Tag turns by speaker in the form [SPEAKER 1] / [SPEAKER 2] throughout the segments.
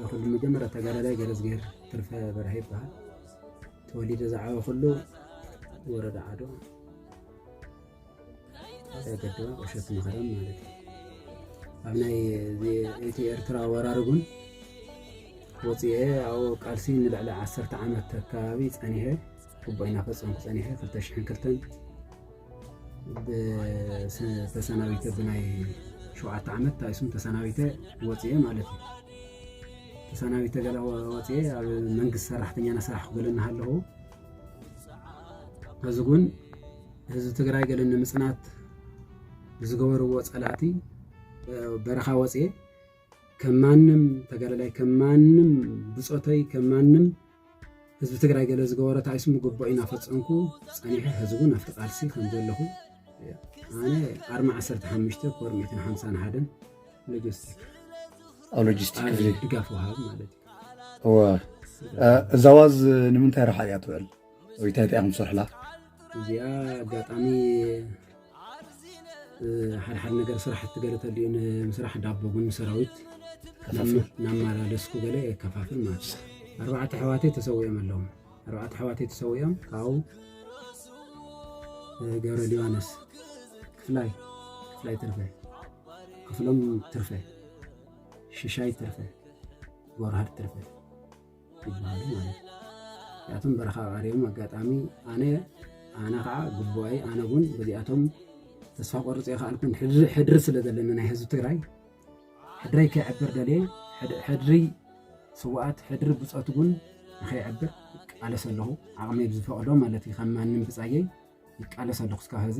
[SPEAKER 1] ንኹሉ መጀመርያ ተጋዳላይ ገረዝጌር ትርፈ በርሀ ይበሃል ተወሊደ ዝዓበኹሉ ወረዳ ዓዶ ገዶ ቁሸት መኸረም ማለት እዩ ኣብ ናይ እቲ ኤርትራ ወራር እውን ወፅኤ ኣብኡ ቃልሲ ንልዕሊ ዓሰርተ ዓመት ኣካባቢ ፀኒሐ ግቡእና ፈፀምኩ ፀኒሐ ክልተ ሽሕን ክልተን ተሰናቢተ ብናይ ሸውዓተ ዓመት ታይሱም ተሰናቢተ ወፅኤ ማለት እዩ ተሰናቢተ ገላ ወፅኤ ኣብ መንግስቲ ሰራሕተኛ ናሰራሕ ክገለ እናሃለኹ እዚ ግን ህዝቢ ትግራይ ገለ ንምፅናት ብዝገበርዎ ፀላእቲ በረኻ ወፅኤ ከም ማንም ተጋዳላይ ከም ማንም ብፆተይ ከም ማንም ህዝቢ ትግራይ ገለ ዝገበሮ ታይስ ምጉቦ ኢና ፈጸምኩ ጸኒሐ ሕዚ እውን ኣብቲ ቃልሲ ከም ዘለኹ ኣነ ኣርማ 15 ኮር 151 ሎጂስቲክ
[SPEAKER 2] ኣብ ሎጂስቲክ ክፍሊ ድጋፍ ወሃብ
[SPEAKER 1] ማለት እዩ እወ
[SPEAKER 2] እዛ ዋዝ ንምንታይ ረሓ እያ ትውዕል ወይ እንታይ እንታይ ኢኹም ትሰርሕላ እዚኣ
[SPEAKER 1] ኣጋጣሚ ሓደ ሓደ ነገር ስራሕቲ ገለ ተልዩ ንምስራሕ ዳቦ ቡን ሰራዊት ናመላለስኩ ገለ የከፋፍል ማለት እዩ ኣርባዕተ ኣሕዋተይ ተሰዊኦም ኣለዉ ኣርባዕተ ኣሕዋተይ ተሰዊኦም ካብኡ ገብረ ሊባኖስ ክፍላይ ክፍላይ ትርፈ ክፍሎም ትርፈ ሽሻይ ትርፈ ጎርሃድ ትርፈ ይብሃሉ ማለት እዩ እዚኣቶም በረኻ ቀሪቦም ኣጋጣሚ ኣነ ኣነ ከዓ ግቡኣይ ኣነ እውን በዚኣቶም ተስፋ ቆርፅ የኸኣልኩን ሕድሪ ስለ ዘለና ናይ ህዝቢ ትግራይ ሕድረይ ከይዕብር ደልየ ሕድሪ ስዋኣት ሕድሪ ብፆት እውን ንከይዕብር ቃለሰ ኣለኹ ዓቕመይ ብዝፈቕዶ ማለት እዩ ከም ማንም ብፃየይ ይቃለስ ኣለኩ እስካብ ሀዚ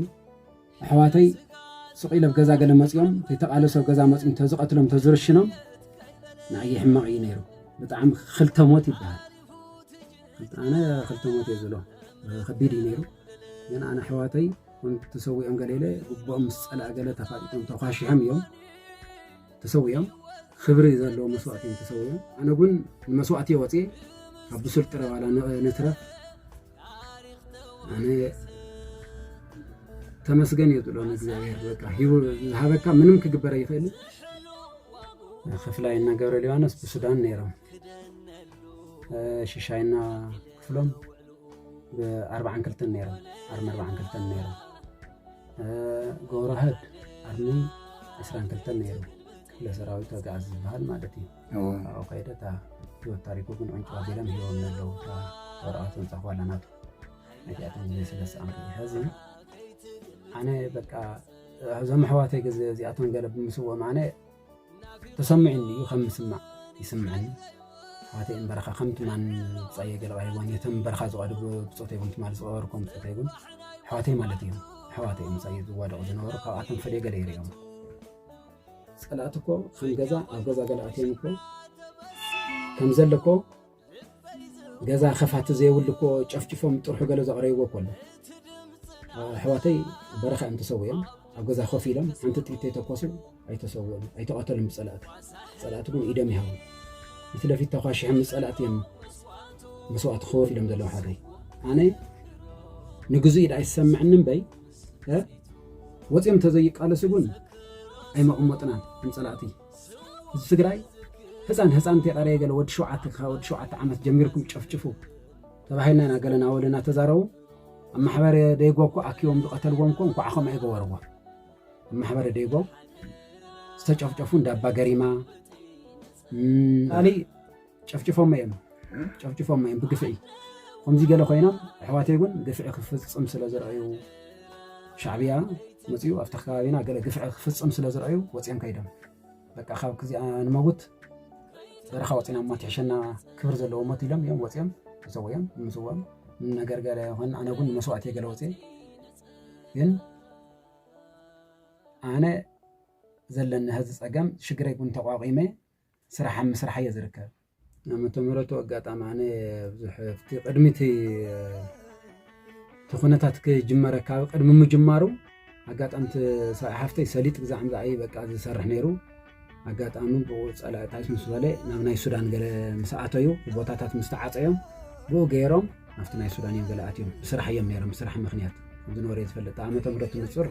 [SPEAKER 1] ኣሕዋተይ ስቅ ኢለ ብ ገዛ ገለ መፅኦም ተይተቃለሱ ኣብ ገዛ መፅኦም ተዝቀትሎም ተዝርሽኖም ንኣየ ሕማቅ እዩ ነይሩ ብጣዕሚ ክልተ ሞት ይበሃል ኣነ ክልተ ሞት እየ ዝብሎ ከቢድ እዩ ነይሩ ግን ኣነ ኣሕዋተይ ተሰዊኦም ገለ ኢለ ጉቦኦም ምስ ፀልኣ ገለ ተፋጢጦም ተኳሺሖም እዮም ተሰዊኦም ክብሪ ዘለዎ መስዋእቲ እዮም ተሰዊኦም ኣነ ግን ንመስዋእቲ እየ ወፅየ ካብ ብሱል ጥረ ዋላ ንትረፍ ኣነ ተመስገን እየ ዝብሎ ንእግዚኣብሔር በቃ ሂቡ ዝሃበካ ምንም ክግበር ኣይኽእልን ክፍላይና ገብረ ሊባኖስ ብሱዳን ነይሮም ሽሻይና ክፍሎም ብኣርባዓን ክልተን ነይሮም ኣርሚ ኣርባዓን ክልተን ነይሮም ገብረዋህድ ኣርሚ ዕስራን ክልተን ነይሩ ክፍለ ሰራዊት ወግዓዝ ዝበሃል ማለት እዩ ኣብኡ ከይደ እታ ህይወት ታሪኩ ግን ዕንጩ ኣቢሎም ሂቦምኒ ኣለዉ እታ ወረቐት ዘምፃእኽዋላ ናቱ ነቲኣቶም ዝመስለ ሰኣንኩ ሕዚ ኣነ በቃ እዞም ኣሕዋተይ ግዜ እዚኣቶም ገለ ብምስዎም ኣነ ተሰሚዑኒ እዩ ከም ምስማዕ ይስምዐኒ ኣሕዋተይ እምበረኻ ከም ትማን ብፃየ ገለባ ይቦን የቶም እምበረኻ ዝቐድብ ብፆት ይቡን ትማል ዝቐበርኩም ብፆት ይቡን ኣሕዋተይ ማለት እዮም ኣሕዋተይ ምሳይ ዝዋደቑ ዝነበሩ ካብኣቶም ፈለየ ገለ ይሪኦም ጸላእቲ እኮ ከም ገዛ ኣብ ገዛ ገለ ኣትዮም እኮ ከም ዘለ እኮ ገዛ ከፋቲ ዘይብሉ እኮ ጨፍጭፎም ጥርሑ ገለ ዘቕረይዎ እኮ ኣሎ ኣሕዋተይ በረኻ እዮም ተሰውዮም ኣብ ገዛ ኮፍ ኢሎም ሓንቲ ጥይት ተኮሱ ኣይተሰውዮም ኣይተቐተሉም ብፀላእቲ ፀላእቲ ግን ኢዶም ይሃቡ ፊት ለፊት ተኳሽሖም ፀላእቲ እዮም መስዋእቲ ክወፍ ኢሎም ዘለዉ ሓተይ ኣነ ንግዙኢ ዳኣ ይሰምዕኒ እምበይ ወፂኦም እንተዘይቃለሱ ግን ኣይመቐመጥናን ከም ፀላእቲ እዚ ትግራይ ህፃን ህፃን እንተይቀረየ ገለ ወዲ ሸውዓተ ካብ ወዲ ሸውዓተ ዓመት ጀሚርኩም ጨፍጭፉ ተባሂልና ኢና ገለ ናወለ እናተዛረቡ ኣብ ማሕበረ ደይጎ እኮ ኣኪቦም ዝቐተልዎም እኮ እንኳዕ ከምኡ ኣይገበርዎ ኣብ ማሕበረ ደይጎ ዝተጨፍጨፉ እንዳ ኣባ ገሪማ ካልእ ጨፍጭፎሞ እዮም ጨፍጭፎሞ እዮም ብግፍዒ ከምዚ ገለ ኮይኖም ኣሕዋተይ እውን ግፍዒ ክፍፅም ስለ ዝረኣዩ ሻዕብያ መፅኡ ኣብቲ ከባቢና ገለ ግፍዒ ክፍፅም ስለ ዝረኣዩ ወፂኦም ከይዶም በቃ ካብ ክዚኣ ንመውት በረኻ ወፂና እሞ ትሕሸና ክብር ዘለዎ ሞት ኢሎም እዮም ወፂኦም ተሰውኦም ምስዎም ነገር ገለ ይኹን ኣነ እውን መስዋእቲ ገለ ወፅየ ግን ኣነ ዘለኒ ህዚ ፀገም ሽግረይ እውን ተቋቂመ ስራሕ ኣብ ምስራሕ እየ ዝርከብ። ዓመተ ምሕረቱ ኣጋጣሚ ኣነ ብዙሕ ኣብቲ ቅድሚ እቲ ኩነታት ክጅመረ ካብ ቅድሚ ምጅማሩ ኣጋጣሚ ሰብኣይ ሓፍተይ ሰሊጥ ግዛዕ ምዛዕ እዩ በቃ ዝሰርሕ ነይሩ ኣጋጣሚ ብኡ ፀላእታት ምስ በለ ናብ ናይ ሱዳን ገለ ምስ ኣተዩ ቦታታት ምስ ተዓፀዮም ብኡ ገይሮም ናብቲ ናይ ሱዳን እዮም ገለ ኣትዮም ብስራሕ እዮም ነይሮም ብስራሕ ምክንያት ከምዚ ነበረ እየ ዝፈልጥ ዓመተ ምሕረቱ ንፁር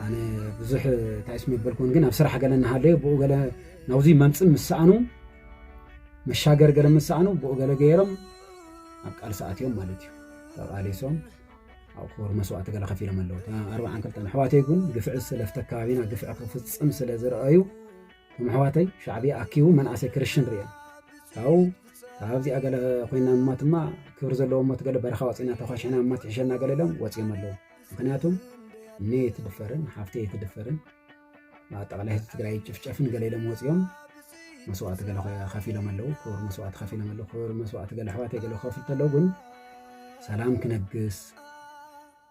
[SPEAKER 1] ኣነ ብዙሕ እንታይ ስም የበልኩን ግን ኣብ ስራሕ ገለ እናሃለዩ ብኡ ገለ ናብዚ መምፅእ ምስ ሰኣኑ መሻገር ገለ ምስ ሰኣኑ ብኡ ገለ ገይሮም ኣብ ቃልሲ ኣትዮም ማለት እዩ ተቓሊሶም ኣብ ክቡር መስዋእቲ ገለ ከፊሎም ኣለዉ ኣርባዓን ክልተን ኣሕዋተይ ግን ግፍዒ ስለ ኣብቲ ኣከባቢና ግፍዒ ክፍፅም ስለ ዝረኣዩ እቶም ኣሕዋተይ ሻዕብያ ኣኪቡ መናእሰይ ክርሽን ርእዮም ካብኡ ካብዚኣ ገለ ኮይና እሞት እማ ክብሪ ዘለዎ እሞት ገለ በረኻ ወፂና ተኳሽዕና እሞት ይሕሸና ገለ ኢሎም ወፂኦም ኣለዉ ምክንያቱም እነ የትድፈርን ሓፍተ የትድፈርን ኣጠቃላይ ህዝቢ ትግራይ ጭፍጨፍን ገለ ኢሎም ወፂኦም መስዋእቲ ገለ ከፊሎም ኣለዉ ክብሪ መስዋእቲ ከፊሎም ኣለዉ ክብሪ መስዋእቲ ገለ ኣሕዋተይ ገለ ከፍሉ ተለዉ ግን ሰላም ክነግስ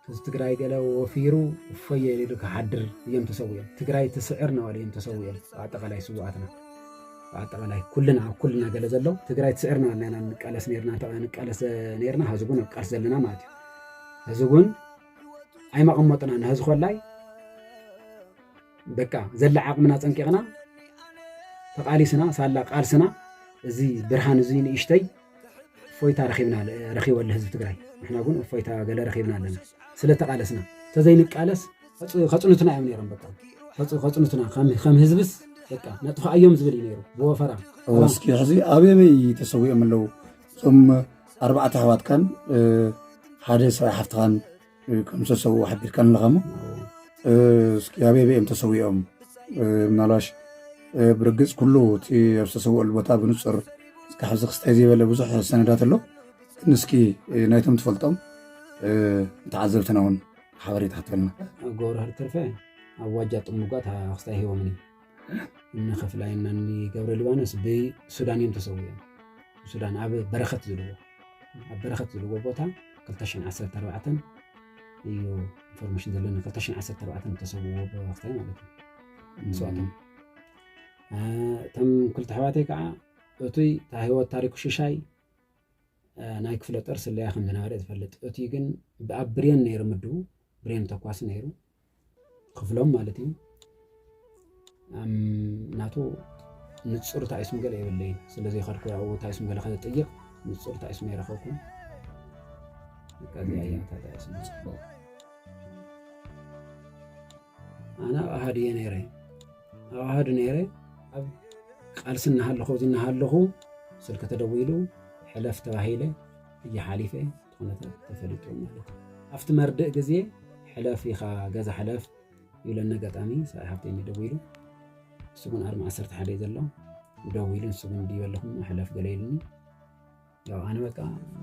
[SPEAKER 1] ህዝቢ ትግራይ ገለ ወፊሩ እፎየ ኢሉ ክሓድር እዮም ተሰዊኦም። ትግራይ ትስዕር እናበሉ እዮም ተሰዊኦም። ብኣጠቃላይ ስውኣትና ብኣጠቃላይ ኩልና ኣብ ኩልና ገለ ዘሎ ትግራይ ትስዕር እናበልና ኢና ንቃለስ ነርና ንቃለስ ነርና ሕዚ እውን ኣብ ቃልሲ ዘለና ማለት እዩ። ሕዚ እውን ኣይመቐመጡና ንሕዚ ኮላይ በቃ ዘላ ዓቕምና ፀንቂቕና ተቓሊስና ሳላ ቃልስና እዚ ብርሃን እዚ ንእሽተይ እፎይታ ረኺብና ረኺቦ ኣሎ ህዝቢ ትግራይ ንሕና እውን እፎይታ ገለ ረኺብና ኣለና ስለ ተቓለስና ተዘይንቃለስ ከፅኑትና እዮም ነይሮም በቃ ከፅኑትና ከም ህዝብስ በቃ ነጥፋኣዮም ዝብል እዩ ነይሩ ብወፈራ እስኪ ሕዚ
[SPEAKER 2] ኣበበይ ተሰዊኦም ኣለዉ እዞም ኣርባዕተ ኣሕዋትካን ሓደ ሰብኣይ ሓፍትኻን ከም ዝተሰውኡ ሓቢርካን ኣለኻሞ እስኪ ኣበይ በይም ተሰዊኦም ምናልባሽ ብርግፅ ኩሉ እቲ ኣብ ዝተሰውኦሉ ቦታ ብንፁር እስኪ ሕዚ ክስታይ ዘይበለ ብዙሕ ሰነዳት ኣሎ ግን እስኪ ናይቶም ትፈልጦም ንተዓዘብትና እውን ሓበሬታ ሃተልና ጎብርሃር ተርፈ
[SPEAKER 1] ኣብ ዋጃ ጥሙጋት ክስታይ ሂቦምኒ ንክፍላይ እና ገብረ ሊባኖስ ብሱዳን እዮም ተሰዊኦም ሱዳን ኣብ በረኸት ዝልዎ ኣብ በረኸት ዝልዎ ቦታ 214 እዩ ኢንፎርሜሽን ዘለኒ 214 ተሰውዎ ብወቅታይ ማለት እዩ ንስዋቶም እቶም ክልተ ኣሕዋተይ ከዓ እቱይ እታ ህይወት ታሪኩ ሽሻይ ናይ ክፍለ ጦር ስለያ ከም ዝነበረ ዝፈልጥ እቱይ ግን ብኣብ ብሬን ነይሩ ምድቡ ብሬን ተኳሲ ነይሩ ክፍሎም ማለት እዩ ናቱ ንፁር ታይስም ገለ የብለይ ስለዚ ከድኩ ያው ታይስም ገለ ከጥይቕ ንፁር ታይስም ይረኸብኩ ከዚያ እያ ታይስም ፅቡቕ ኣነ ኣብ ኣሃድ እየ ነይረ ኣብ ኣሃድ ነይረ ኣብ ቃልሲ እናሃለኹ እዚ እናሃለኹ ስልኪ ተደዊሉ ሕለፍ ተባሂለ እየ ሓሊፈ ኩነታት ተፈሊጡ ማለት እዩ። ኣብቲ መርድእ ግዜ ሕለፍ ኢኻ ገዛ ሕለፍ ይብለኒ ኣጋጣሚ ሰብኣይ ሃብተይ እዩ ደዊሉ ንሱ ግን ኣርሚ ዓሰርተ ሓደ እዩ ዘሎ ደዊሉ ንሱ ግን ድዩ ኣለኹም ሕለፍ ገለ ኢሉኒ ያው ኣነ በቃ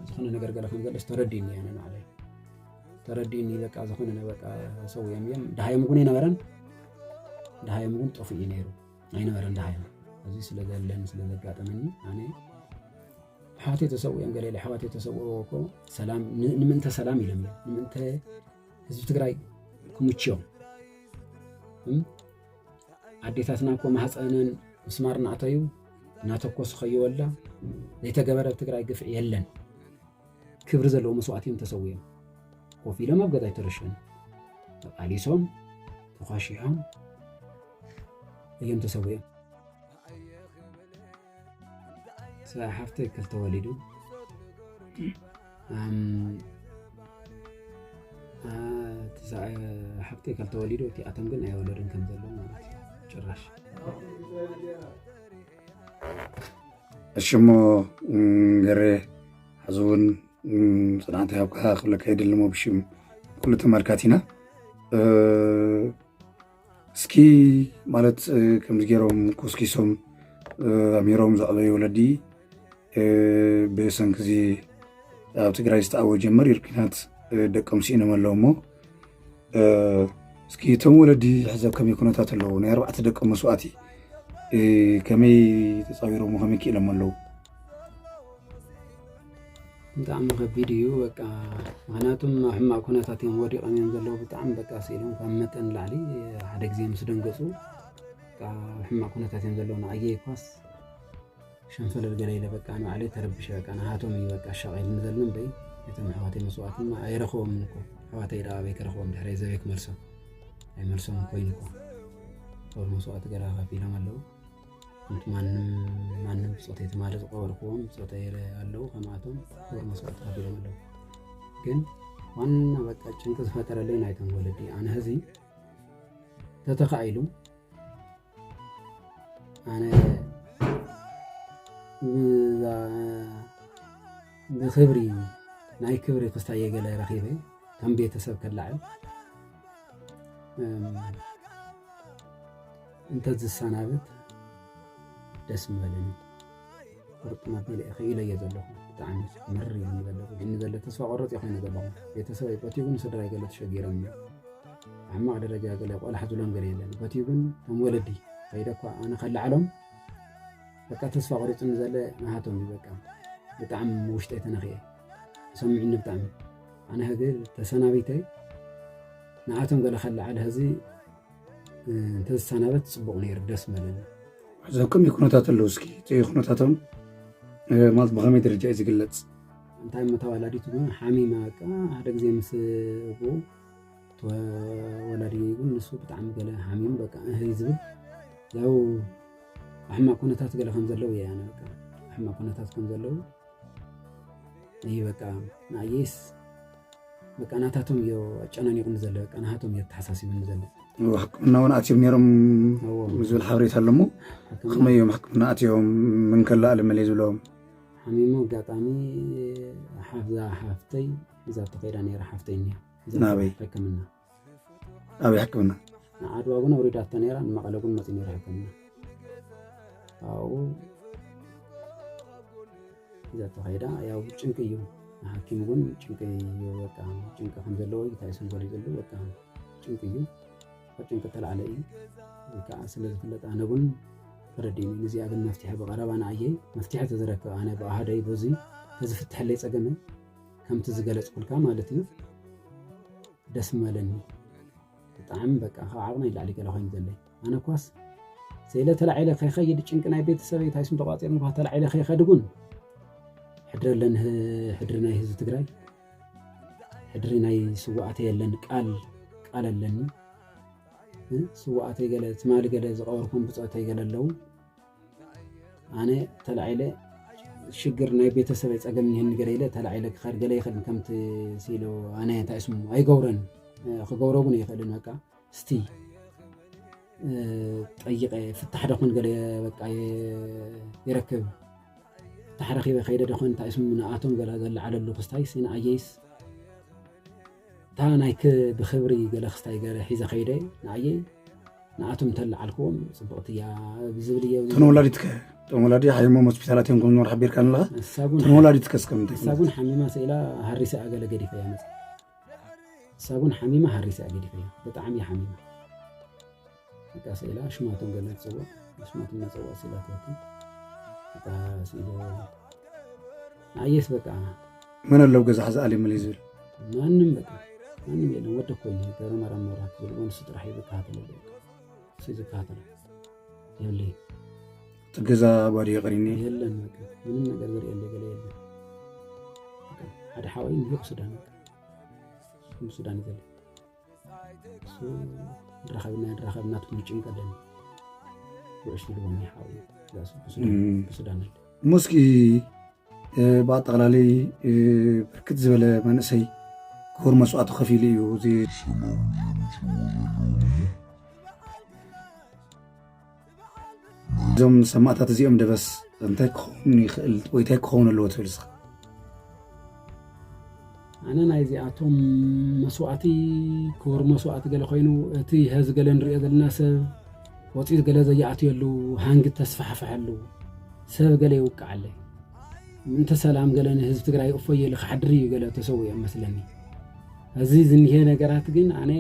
[SPEAKER 1] ዝኾነ ነገር ገለ ከም ዘለስ ተረዲኒ ኣነ ንዓለይ ተረዲኒ በቃ ዝኾነ በቃ ሰው እዮም እዮም ድሃዮም እውን ኣይነበረን ድሃዮም እውን ጠፍኡ እዩ ነይሩ ኣይነበረን ድሃዮም እዚ ስለ ዘለን ስለ ዘጋጠመኒ ኣነ ኣሕዋተይ ተሰዊኦም ገለ ኣሕዋተይ ተሰውኦ እኮ ሰላም ንምእንተ ሰላም ኢሎም እዮም ንምእንተ ህዝቢ ትግራይ ክምችዮም ኣዴታትና እኮ ማህፀነን ምስማር እናእተዩ እናተኮሱ ከይወላ ዘይተገበረ ኣብ ትግራይ ግፍዒ የለን ክብሪ ዘለዎ መስዋእቲ እዮም ተሰዊኦም ኮፍ ኢሎም ኣብ ገዛ ይተረሸኑ ተቃሊሶም ተኳሺሖም እዮም ተሰዊኦም ስለ ሓፍተይ ክልተ ወሊዱ ሓብተይ ካብ ተወሊዶ እቲኣቶም ግን ኣይወለድን ከም ዘሎ ማለት እዩ ጭራሽ
[SPEAKER 2] እሽሞ ገሬ ሕዚ እውን ፅናዕቲ ሃብካ ክብለካ የድሊ ሞ ብሽም ኩሉ ተመልካቲና እስኪ ማለት ከምዚ ገይሮም ኮስኪሶም ኣሚሮም ዘዕበዩ ወለዲ ብሰንኪ እዚ ኣብ ትግራይ ዝተኣወጀ መሪር ኩናት ደቆም ስኢኖም ኣለዉ እሞ እስኪ እቶም ወለዲ ሕዘ ከመይ ኩነታት ኣለዉ ናይ ኣርባዕተ ደቆም መስዋእቲ ከመይ ተፃዊሮም ከመይ ክኢሎም ኣለዉ
[SPEAKER 1] ብጣዕሚ ከቢድ እዩ በቃ ምክንያቱም ኣብ ሕማቅ ኩነታት እዮም ወዲቆም እዮም ዘለዉ ብጣዕሚ በቃ ስኢሎም ካብ መጠን ላዕሊ ሓደ ግዜ ምስ ደንገፁ ኣብ ሕማቅ ኩነታት እዮም ዘለዉ ንዓየይ እኳስ ሸንፈለል ገለ ኢለ በቃ ንባዕለይ ተረቢሸ በቃ ንሃቶም እዩ በቃ ሻቂልኒ ዘሎ እምበይ እቶም ኣሕዋተይ መስዋእቲ እማ ኣይረኽቦምን እኮ ኣሕዋተይ ደኣ ኣበይ ክረኽቦም ድሕሪ ዘበይ ክመልሶም ኣይመልሶም ኮይኑ እኮ ጦር መስዋእቲ ገለ ከፊሎም ኣለዉ እቲ ማንም ማንም ብፆተይ ትማሊ ዝቀበልክዎም ብፆተይ ኣለዉ ከምኣቶም ክቡር መስዋእቲ ከፊሎም ኣለዉ ግን ዋና በቃ ጭንቂ ዝፈጠረለይ ናይቶም ወለዲ ኣነ ህዚ ተተኻኢሉ ኣነ ብክብሪ ናይ ክብሪ ክስታይ የገለ ረኺበ ከም ቤተሰብ ከላዕል እንተዝሰናብት ደስ ምበለኒ ቁርጥና ኣቢለ ኢኸ ኢለዮ ዘለኹ ብጣዕሚ ምር ኢሉኒ ዘሎ ግን ዘሎ ተስፋ ቆረፅ ኢኸ ኢለ ዘለኹ ቤተሰብ ኣይቆቲቡን ስድራይ ገለ ተሸጊሮም ሕማቕ ደረጃ ገለ ቆላሕ ዝብሎም ገለ የለን ቆቲቡን ከም ወለዲ ከይደ እኳ ኣነ ከላዕሎም በቃ ተስፋ ቆሪፅኒ ዘለ ናሃቶም እዩ በቃ ብጣዕሚ ውሽጠይ ተነኽየ ሰሚዕኒ ብጣዕሚ ኣነ ህግ ተሰናቢተይ ንኣቶም ገለ ከላዕል ህዚ እንተዝሰናበት ፅቡቕ ነይሩ ደስ መለኒ ዘከም
[SPEAKER 2] ይኩነታት ኣለዉ እስኪ እቲ ኩነታቶም ማለት ብኸመይ ደረጃ እዩ ዝግለፅ እንታይ እሞ
[SPEAKER 1] ተወላዲት ግን ሓሚማ በቃ ሓደ ግዜ ምስ እቡ ተወላዲ ግን ንሱ ብጣዕሚ ገለ ሓሚሙ በቃ እህ ዝብል ያው ሕማቅ ኩነታት ገለ ከም ዘለዉ እየ ኣነ በቃ ሕማቅ ኩነታት ከም ዘለዉ እዩ በቃ ንኣየይስ በቃ ናታቶም እዮ ኣጨናኒቑኒ ዘሎ በቃ ናሃቶም እዮ ተሓሳሲቡኒ ዘሎ ሕክምና እውን
[SPEAKER 2] ኣትዮም ነይሮም ዝብል ሓበሬታ ኣለሞ ከመይ እዮም ሕክምና ኣትዮም ምንከላ ኣለመለ ዝብሎም ሓሚሙ
[SPEAKER 1] ኣጋጣሚ ሓፍዛ ሓፍተይ እዛ ተኸይዳ ነይራ ሓፍተይ እኒያ ናበይ ሕክምና
[SPEAKER 2] ኣብ ሕክምና ንዓድዋ እውን
[SPEAKER 1] ኣውሪዳቶ ነይራ ንመቐለ እውን መፅኡ ነይራ ሕክምና ካብኡ ሒዛቶ ከይዳ ያው ጭንቂ እዩ ንሓኪም እውን ጭንቂ እዩ በቃ ጭንቂ ከም ዘለዎ እዩ ታይሶም ዘሎ ዘሎ በቃ ጭንቂ እዩ ካብ ጭንቂ ተላዕለ እዩ ከዓ ስለ ዝፍለጥ ኣነ እውን ተረዲኒ ንዚኣ ግን መፍትሒ ብቐረባ ንኣየይ መፍትሒ ተዝረክብ ኣነ ብኣሃደይ በዙይ ተዝፍትሐለይ ፀገመይ ከምቲ ዝገለፅኩልካ ማለት እዩ ደስ ምበለኒ ብጣዕሚ በቃ ካብ ዓቕመ ይላዕሊ ገለ ኮይኑ ዘለይ ኣነ ኳስ ስኢለ ተላዒለ ከይኸይድ ጭንቂ ናይ ቤተሰበይ እንታይ ስም ተቋፂሩ እንኳ ተላዒለ ከይኸድ እውን ሕድሪ ኣለኒ ሕድሪ ናይ ህዝቢ ትግራይ ሕድሪ ናይ ስዋኣተ የለን ቃል ቃል ኣለኒ ስዋኣተይ ገለ ትማሊ ገለ ዝቐበርኩም ብፆተይ ገለ ኣለዉ ኣነ ተላዒለ ሽግር ናይ ቤተሰበይ ፀገም እኒሀኒ ገለ ኢለ ተላዒለ ክኸድ ገለ ይኽእል ከምቲ ሲሉ ኣነ እንታይ ስሙ ኣይገብረን ክገብሮ እውን ኣይኽእልን በቃ እስቲ ጠይቀ ፍታሕ ደኹን ገለ በቃ ይረክብ ፍታሕ ረኪበ ከይደ ደኹን እንታይ ስሙ ንኣቶም ገለ ዘለዓለሉ ክስታይስ ንኣየይስ እታ ናይቲ ብኽብሪ ገለ ክስታይ ገረ ሒዘ ከይደ ንኣየይ ንኣቶም እንተለዓልክዎም ፅብቕቲ እያ ብዝብል እየ እተን ወላዲት ከ እቶም
[SPEAKER 2] ወላዲ ሓይሞም ሆስፒታላት እዮም ከምዝኖር ሓቢርካ ኣለኻ ንሳጉን እተን ወላዲት ከስ ከም እንታይ ንሳጉን ሓሚማ ስኢላ
[SPEAKER 1] ሃሪሰ እያ ገለ ገዲፈ እያ መፅ ንሳጉን ሓሚማ ሃሪሰ እያ ገዲፈ እያ ብጣዕሚ እያ ሓሚማ እታ ስእላ ኣሽማቶም ገለ ትፅውዕ ኣሽማቶም መፀውዕ ስእላትቲ እታ ስእሎ ንኣየስ በቃ መን ኣለው
[SPEAKER 2] ገዛ ሕዚ ኣሊሙሊ ዝብል ማንም በቃ
[SPEAKER 1] ማንም የለን ወደ ኮ ገረ ማርያም መብራት ዝብሎ ንሱ ጥራሕ እዩ ዝከታተለ ንሱ ዝከታተለ የለ እቲ
[SPEAKER 2] ገዛ ባዶ የቕሪኒ የለን በቃ ምንም
[SPEAKER 1] ነገር ዝርእየለ ገለ የለን ሓደ ሓወይ ንሂቕ ሱዳን ሱዳን ይዘለ ረኸብና ረኸብና ትብሉ ጭንቀደን ውዕሽ ልቦና ይሓውዩ ብሱዳን ሙስኪ
[SPEAKER 2] ብኣጠቃላላይ ብርክት ዝበለ መንእሰይ ክቡር መስዋእቲ ከፊሉ እዩ እዚ እዞም ሰማእታት እዚኦም ደበስ እንታይ ክኸውን ይኽእል ወይ እንታይ ክኸውን ኣለዎ ትብል እስኻ?
[SPEAKER 1] ኣነ ናይ እዚኣቶም መስዋእቲ ክቡር መስዋእቲ ገለ ኮይኑ እቲ ሀዚ ገለ ንሪኦ ዘለና ሰብ ወፂት ገለ ዘየኣትየሉ ሃንግ ተስፋሕፈሐሉ ሰብ ገለ ይውቃዓለ ምንተ ሰላም ገለ ንህዝቢ ትግራይ እፎየሉ ክሓድር እዩ ገለ ተሰዊኦም መስለኒ እዚ ዝኒሀ ነገራት ግን ኣነ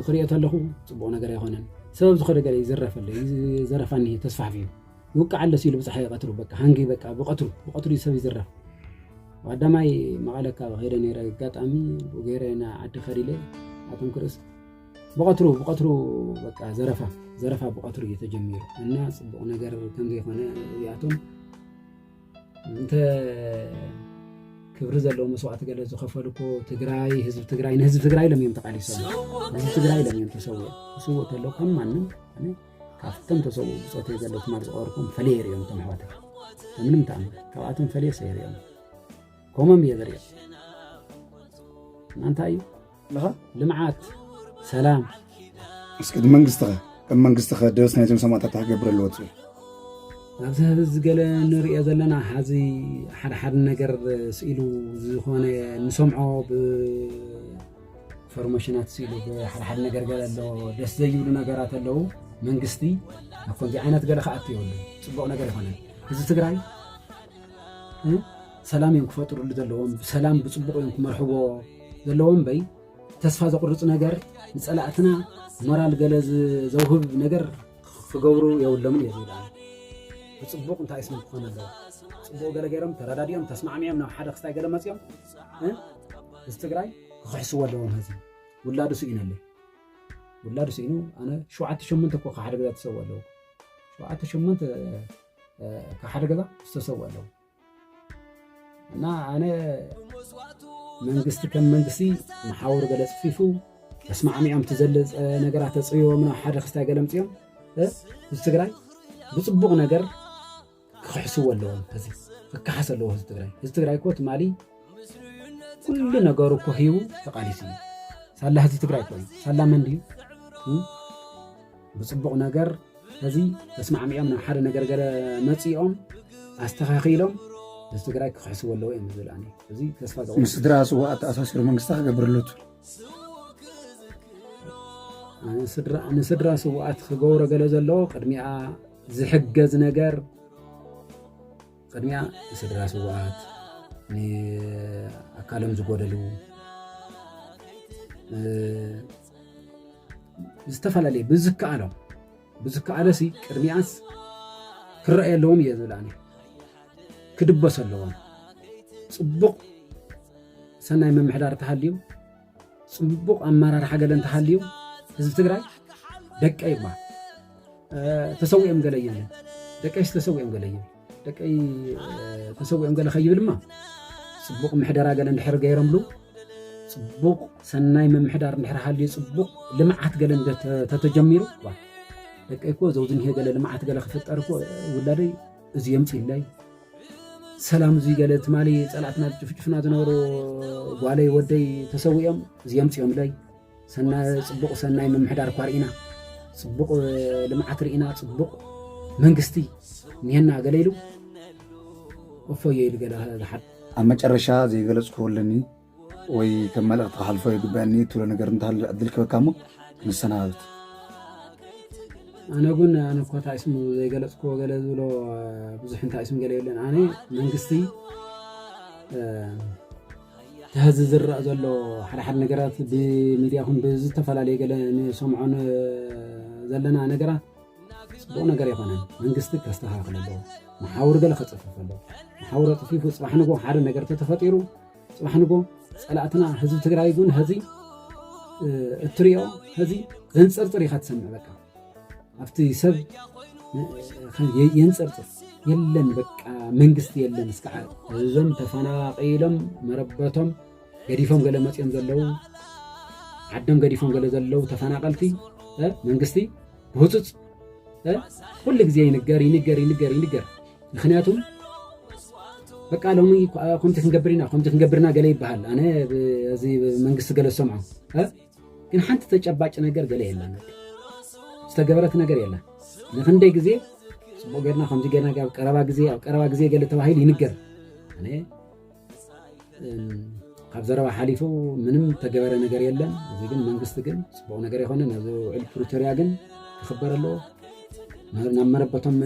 [SPEAKER 1] ክሪኦ ተለኹ ፅቡቕ ነገር ኣይኮነን ሰበብ ዝኾነ ገለ ይዝረፍ ኣሎ ዘረፋ እኒሀ ተስፋሕፊሑ ይውቃዕ ኣሎ ሲሉ ብፅሓ ይቐትሩ በቃ ሃንጊ በቃ ብቐትሩ ብቐትሩ ሰብ ይዝረፍ ዋዳማይ መቐለ ካብ ከይደ ነይረ ኣጋጣሚ ገይረ ና ዓዲ ከዲለ ኣቶም ክርስ ብቐትሩ ብቐትሩ በቃ ዘረፋ ዘረፋ ብቐትሩ እዩ ተጀሚሩ እና ፅቡቕ ነገር ከምዘይኮነ እዚኣቶም እንተ ክብሪ ዘለዎ መስዋእቲ ገለ ዝኸፈሉ እኮ ትግራይ ህዝቢ ትግራይ ንህዝቢ ትግራይ ኢሎም እዮም ተቃሊሶም ንህዝቢ ትግራይ ኢሎም እዮም ተሰውኦም ክስውእ ከሎ ከም ማንም ካብቶም ተሰውኡ ብፆት ዘሎ ትማል ዝቀበርኩም ፈለየ ይሪኦም እቶም ኣሕዋት ምንም ተኣምር ካብኣቶም ፈለየ ሰይሪኦም ኮመም የበርየል ማንታ እዩ
[SPEAKER 2] ልምዓት
[SPEAKER 1] ሰላም እስኪ
[SPEAKER 2] እቲ መንግስትኸ ከም መንግስትኸ ደስ ናይዞም ሰማእታት ክገብር ኣለዎ ትብል ኣብዚ
[SPEAKER 1] ህብ ዝገለ ንሪኦ ዘለና ሓዚ ሓደ ሓደ ነገር ስኢሉ ዝኾነ ንሰምዖ ብፎርሜሽናት ስኢሉ ብሓደ ሓደ ነገር ገለ ኣለዎ ደስ ዘይብሉ ነገራት ኣለዉ መንግስቲ ኣብ ከምዚ ዓይነት ገለ ክኣት የብሉ ፅቡቕ ነገር ይኮነ ህዝቢ ትግራይ ሰላም እዮም ክፈጥርሉ ዘለዎም ብሰላም ብፅቡቕ እዮም ክመርሕዎ ዘለዎም እምበይ ተስፋ ዘቑርፅ ነገር ንፀላእትና ሞራል ገለ ዘውህብ ነገር ክገብሩ የብሎምን እዩ ዝብላ ብፅቡቕ እንታይ ስም ክኾን ኣለዎ ፅቡቕ ገለ ገይሮም ተረዳዲኦም ተስማዕሚኦም ናብ ሓደ ክስታይ ገለ መፅኦም እዚ ትግራይ ክኽሕስዎ ኣለዎም ህዝቢ ውላዱ ስኢኑ ኣለ ውላዱ ስኢኑ ኣነ ሸውዓተ ሸሞንተ እኮ ሓደ ገዛ ተሰው ኣለዎ ሸውዓተ ሸሞንተ ካብ ሓደ ገዛ ዝተሰውእ ኣለዉ እና ኣነ መንግስቲ ከም መንግስቲ መሓውር ገለ ፅፊፉ ተስማዕሚዖም እቲ ዘለፀ ነገራት ተፅብቦም ናብ ሓደ ክስታይ ገለ ምፅኦም እዚ ትግራይ ብፅቡቕ ነገር ክክሕስዎ ኣለዎም እዚ ክከሓስ ኣለዎ ህዝቢ ትግራይ ህዝቢ ትግራይ እኮ ትማሊ ኩሉ ነገሩ እኮ ሂቡ ተቃሊሱ እዩ ሳላ ህዝቢ ትግራይ እኮ እዩ ሳላ መን ድዩ ብፅቡቕ ነገር ሕዚ ተስማዕሚዖም ናብ ሓደ ነገር ገለ መፂኦም ኣስተኻኺሎም ህዝቢ ትግራይ ክኽሕስዎ ኣለዎ እዮም ዝብል ኣነ እዚ ተስፋ ዘቑ ምስ ስድራ ስዋኣት
[SPEAKER 2] ተኣሳሲሩ መንግስቲ ክገብረለቱ
[SPEAKER 1] ንስድራ ስዋኣት ክገብሮ ገለ ዘለዎ ቅድሚኣ ዝሕገዝ ነገር ቅድሚያ ንስድራ ስዋኣት ንኣካሎም ዝጎደሉ ዝተፈላለየ ብዝከኣሎ ብዝከኣለሲ ቅድሚኣስ ክረኣየ ኣለዎም እየ ዝብል ኣነ ክድበስ ኣለዎም ፅቡቕ ሰናይ ምምሕዳር ተሃልዩ ፅቡቕ ኣመራርሓ ገለ እንተሃልዩ ህዝቢ ትግራይ ደቀ ይባ ተሰዊኦም ገለ እዮም ደቀሽ ተሰዊኦም ገለ እዮም ደቀይ ተሰዊኦም ገለ ከይብል እማ ፅቡቕ ምሕደራ ገለ እንድሕር ገይረምሉ ፅቡቕ ሰናይ ምምሕዳር እንድሕር ሃልዩ ፅቡቕ ልምዓት ገለ ተተጀሚሩ ደቀይ እኮ ዘው ዝኒሄ ገለ ልምዓት ገለ ክፍጠር እኮ ውላደይ እዚ የምፅኢለይ ሰላም እዚ ገለ ትማሊ ፀላእትና ዝጭፍጭፍና ዝነበሩ ጓለይ ወደይ ተሰዊኦም እዚ የምፅኦምለይ ፅቡቕ ሰናይ ምምሕዳር እኳ ርኢና ፅቡቕ ልምዓት ርኢና ፅቡቕ መንግስቲ እኒሀና ገለ ኢሉ እፎዮ ኢሉ ገለ ዝሓብ ኣብ መጨረሻ
[SPEAKER 2] ዘይገለፅክዎ ኣለኒ ወይ ከም መልእኽቲ ክሓልፎ ይግበአኒ ትብሎ ነገር እንተሃለ ዕድል ክበካ እሞ ክንሰናበት ኣነ ግን ኣነ እኮ እንታይ ስሙ ዘይገለፅክዎ ገለ ዝብሎ ብዙሕ እንታይ ስም ገለ የለን ኣነ መንግስቲ እቲ ሀዚ ዝረእ ዘሎ ሓደ ሓደ ነገራት ብሚድያ ኹን ብዝተፈላለየ ገለ ንሰምዖ ዘለና ነገራት ፅቡቅ ነገር ኣይኮነን መንግስቲ ከስተካክል ኣለዎ መሓውር ገለ ከፅፍፍ ኣለዎ መሓውር ኣፅፊፉ ፅባሕ ንጎ ሓደ ነገር ተተፈጢሩ ፅባሕ ንጎ ፀላእትና ህዝቢ ትግራይ እውን ሀዚ እትሪኦ ሀዚ ዘንፅርፅር ኢካ ትሰምዕ በቃ ኣብቲ ሰብ የንፅርፅር የለን በቃ መንግስቲ የለን እስከ ዓረ እዞም ተፈናቂሎም መረበቶም ገዲፎም ገለ መፅኦም ዘለው ዓዶም ገዲፎም ገለ ዘለው ተፈናቀልቲ መንግስቲ ብህፁፅ ኩሉ ግዜ ይንገር ይንገር ይንገር ይንገር ምክንያቱም በቃ ሎሚ ከምቲ ክንገብር ኢና ከምቲ ክንገብርና ገለ ይበሃል ኣነ እዚ መንግስቲ ገለ ዝሰምዖ ግን ሓንቲ ተጨባጭ ነገር ገለ የላን ዝተገበረት ነገር የላን ንክንደይ ግዜ ፅቡቅ ገርና ከምዚ ገና ኣብ ቀረባ ግዜ ኣብ ቀረባ ግዜ ገለ ተባሂሉ ይንገር ኣነ ካብ ዘረባ ሓሊፉ ምንም ተገበረ ነገር የለን እዚ ግን መንግስቲ ግን ፅቡቅ ነገር ይኮነ ናብዚ ውዕል ፕሪቶሪያ ግን ክኽበር ኣለዎ ናብ መረበቶም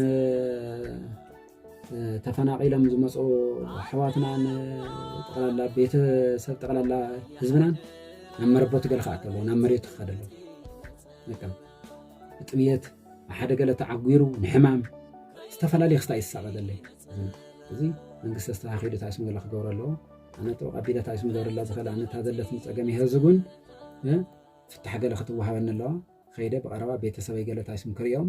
[SPEAKER 2] ተፈናቒሎም ዝመፁ ኣሕዋትናን ጠቕላላ ቤተሰብ ጠቕላላ ህዝብናን ናብ መረበቱ ገለ ክኣቱ ኣለዎ ናብ መሬቱ ክኸደ ኣለዎ በቃ ብጥምየት ብሓደ ገለ ተዓጒሩ ንሕማም ዝተፈላለየ ክስታ እዩ ዝሳቐ ዘሎ እዚ መንግስቲ ኣስተኻኺሉ እንታይ ስም ገለ ክገብሮ ኣለዎ ኣነ ጥሩ ቀቢለ እንታይ ስም ገብረላ ዝኽእል ኣነ እታ ዘለትኒ ፀገም ይሀ ህዝብ እውን ፍታሕ ገለ ክትወሃበኒ ኣለዋ ከይደ ብቐረባ ቤተሰበይ ገለ እንታይ ስም ክሪኦም